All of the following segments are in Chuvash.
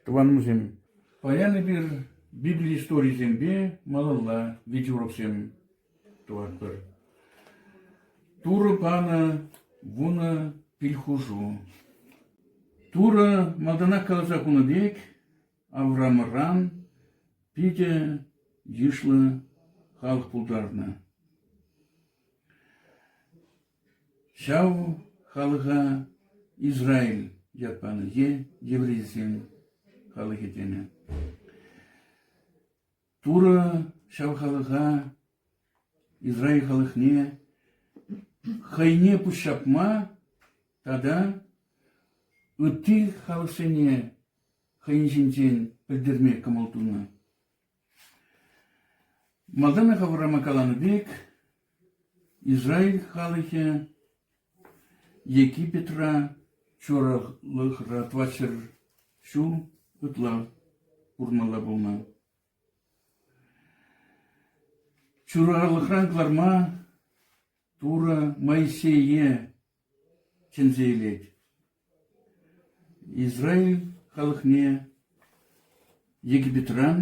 Тӑванӑмсем, паян эпир Библи историйӗсемпе малалла витеуроксем тӑватпӑр. Турӑ панӑ вунӑ пилхушу. Турӑ малтанах каласа хунӑ пек Авраамран питӗ йышлӑ халӑх пултарнӑ. Ҫав халӑха Израиль ят панӑ е еврейсен халӑхӗ тенӗ. Турӑ ҫав халӑха Израиль халӑхне хӑйне пуҫҫапма тата ытти халӑхсене хӑйӗн ҫинчен пӗлтерме кӑмӑл тунӑ. Малтанлӑха вулама каланӑ пек, Израиль халӑхӗ Египетра чуралӑхра тӑватҫӗр ҫул ытла пурӑнмалла пулнӑ. Чуралӑхран кӑларма Турӑ Моисее чӗнсе илет. Израиль халӑхне Египетран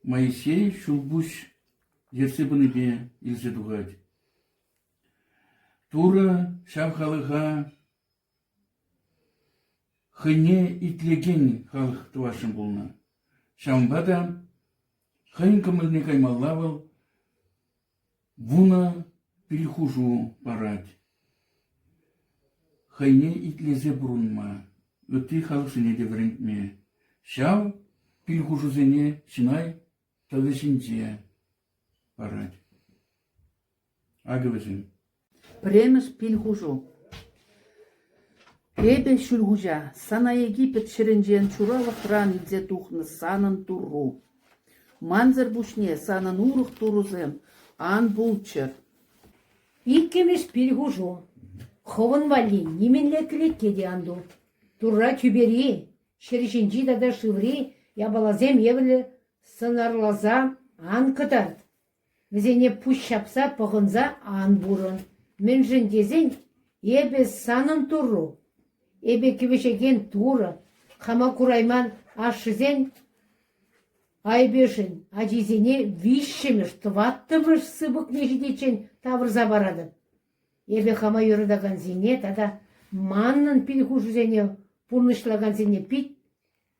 Моисей ҫулпуҫ ертсе пынипе илсе тухать. Турӑ ҫав халӑха хӑйне итлекен халӑх тӑвасшӑн пулнӑ. Ҫавӑнпа та хӑйӗн кӑмӑлне каймалла вӑл Вунӑ килхушу парать. Хӑйне итлесе пурӑнма, ытти халӑхсене те вӗрентме. Ҫав килхушусене Синай тӑвӗ ҫинче парать. Акӑ вӗсем. Пӗрремӗш пил хушу. Эпӗ Ҫӳлхуҫа, сана Эгипет ҫӗрӗнчен чуралӑхран илсе тухнӑ санӑн Турру. Мансӑр пуҫне санӑн урӑх турӑсем ан пулччӑр. Иккӗмӗш пил хушу. Хӑвӑн валли нимӗнле кӗлетке те ан ту. Турра тӳпери, ҫӗр ҫинчи тата шыври япаласем евӗрлӗ сӑнарласа ан кӑтарт. Вӗсене пуҫ ҫапса пӑхӑнса ан пурӑн, мӗншӗн тесен эпӗ санӑн Туру, эпӗ кӗвӗҫекен Турӑ, хама курайман ашшӗсен айӑпӗшӗн ачисене виҫҫӗмӗш тӑваттӑмӗш сыпӑкне ҫитиччен тавӑрса паратӑп. Эпӗ хама юратакансене тата манӑн пил хушусене пурнӑҫлакансене пит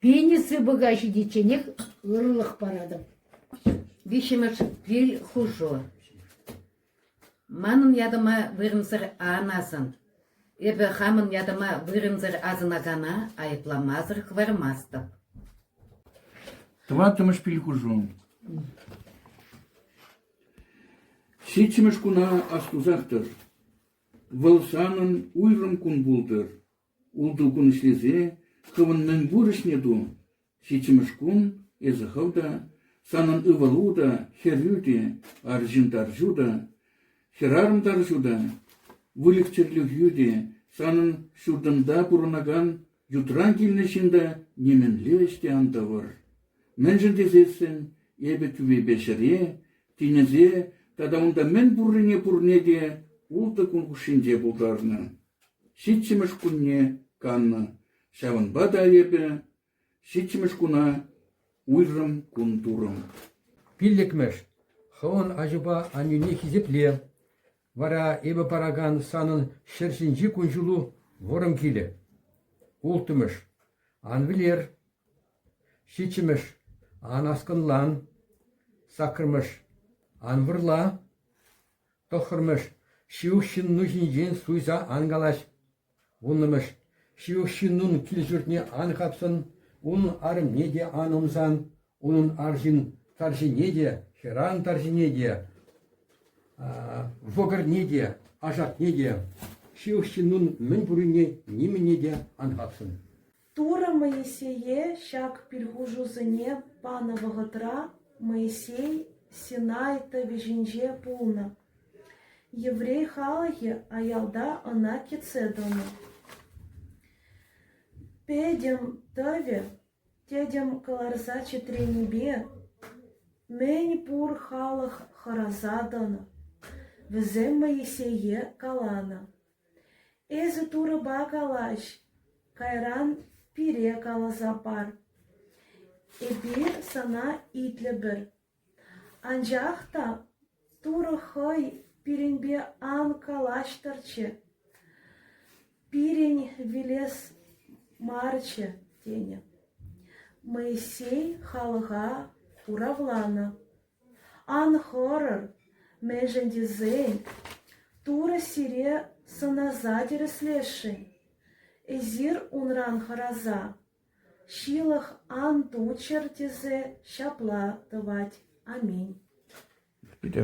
Пени сыпӑка ҫитичченех ырӑлӑх паратӑп. Виҫҫӗмӗш кил хушу. Манӑн ятӑма вырӑнсӑр анасӑн, эпӗ хамӑн ятӑма вырӑнсӑр асӑнакана айӑпламасӑр хӑвармастӑп. Тӑваттӑмӗш пил хушу. Ҫиччӗмӗш куна астусах тӑр. Вӑл санӑн уйрӑм кун пултӑр. Ултӑ кун ӗҫлесе хӑвӑн мӗнпур ӗҫне ту. Ҫиччӗмӗш кун эсӗ хӑв та, санӑн ывӑлу та, хӗрӳ те, арҫын тарҫу та, хӗрарӑм тарҫу та, выльӑх-чӗрлӗхӳ те, санӑн ҫуртӑнта пурӑнакан ютран килнӗ ҫын та нимӗнле ӗҫ те ан тӑвӑр. Мӗншӗн тесессӗн эпӗ тӳвепе ҫӗре, тинӗсе тата унта мӗн пуррине пурне те ултӑ кун хушшинче пултарнӑ. Ҫиччӗмӗш кунне каннӑ, ҫавӑнпа та эпӗ ҫиччӗмӗш куна уйрӑм кун турӑм. Пиллӗкмӗш. Хӑвӑн аҫупа аннӳне хисепле. Вара эпӗ паракан санӑн ҫӗр ҫинчи кун-ҫулу вӑрӑм килӗ. Улттӑмӗш. Ан вилер. Ҫиччӗмӗш. Ан аскӑнлан. Саккӑрмӗш. Ан вырла. Тӑххӑрмӗш – ҫывӑх ҫынну ҫинчен суйса ан калаҫ. Вуннӑмӗш – ҫывӑх ҫыннун кил-ҫуртне ан хапсӑн, унӑн арӑмне те ан ӑмсан, унӑн арҫын тарҫине те, хӗрарӑм тарҫине те, вӑкӑрне те, ашакне те, ҫывӑх ҫыннун мӗн пуррине нимӗне те ан хапсӑн. Турӑ Моисее ҫак пирхушусене панӑ вӑхӑтра Моисей Синай тӑвӗ ҫинче пулнӑ. Еврей халӑхӗ аялта ӑна кӗтсе тӑнӑ. Пӗтӗм тӑвӗ тӗтӗм кӑларса чӗтренипе мӗн пур халӑх хӑраса тӑнӑ. Вӗсем Моисее каланӑ: Эсӗ Турӑпа калаҫ, кайран пире каласа пар. Эпир сана итлӗпӗр. Анчах та Турӑ хӑй пирӗнпе ан калаҫтӑрччӗ, пирӗн вилес марччӗ, тенӗ. Моисей халӑха хуравланӑ. Ан хӑрӑр, мӗншӗн тесен Турӑ сире сӑнаса тӗрӗслесшӗн. Эсир унран хӑраса ҫылӑх ан туччӑр тесе ҫапла тӑвать. Аминь. Питӗ